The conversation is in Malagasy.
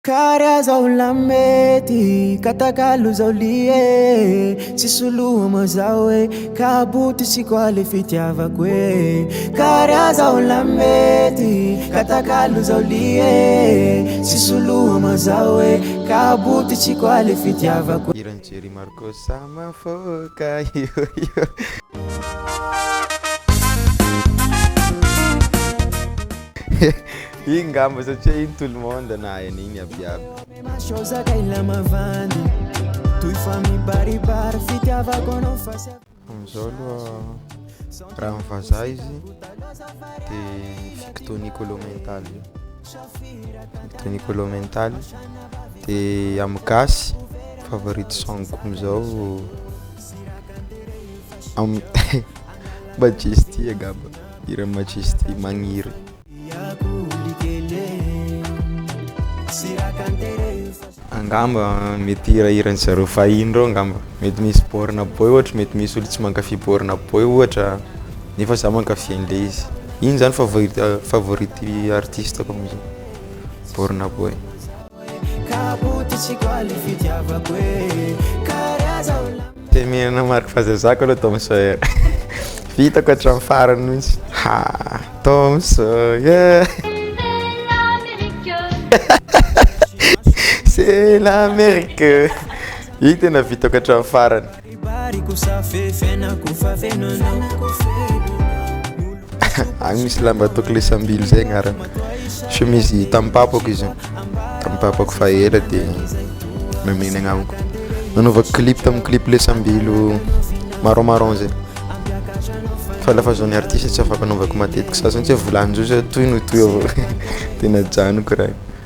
Kary aho zao lamety Ka takalo zao lie Tsy soloa moa zao e Ka boto sy koa le fitiavako e Kary aho zao lamety Ka takalo zao lie Tsy soloa moa zao e Ka boto sy koa le fitiavako e Hiran'i Jerry Marco Samafoka io io Iny ngamba satria iny tout le monde nahay an'iny aby aby. Amizao aloha raha am vazaha izy de victo nicolo mental victo nicolo mental de am gasy favorite song ko amizao am majesty angamba hiran'i majesty magniry. Angamba mety hirahiran'ny zareo fahiny ireo angamba. Mety misy borne boy ohatra, mety misy olo tsy mankafy borne boy ohatra nefa za mankafy an'le izy. Iny zany favori- favorite artiste-ko am'zao, borne boy. Temenina Marc fa zay zako aloha Tom Sawyer vitako hatramin'ny farany mihitsy ha Tom Sawyer c'est l'Amérique iny tena vitako hatramin'ny farany Agny misy lamba atao klesambilo zay agnarany, chemise tamin'ny papako izy io, tamin'ny papako fa ela de nomen'igny agnamiko, nanaovako clip tamin'ny clip lesambilo marron marron zay, fa la fa zao ny artiste tsy afaka anaovako matetika sasany satria vola an'izao zao tohiny ho toy avao de najanoko raha io.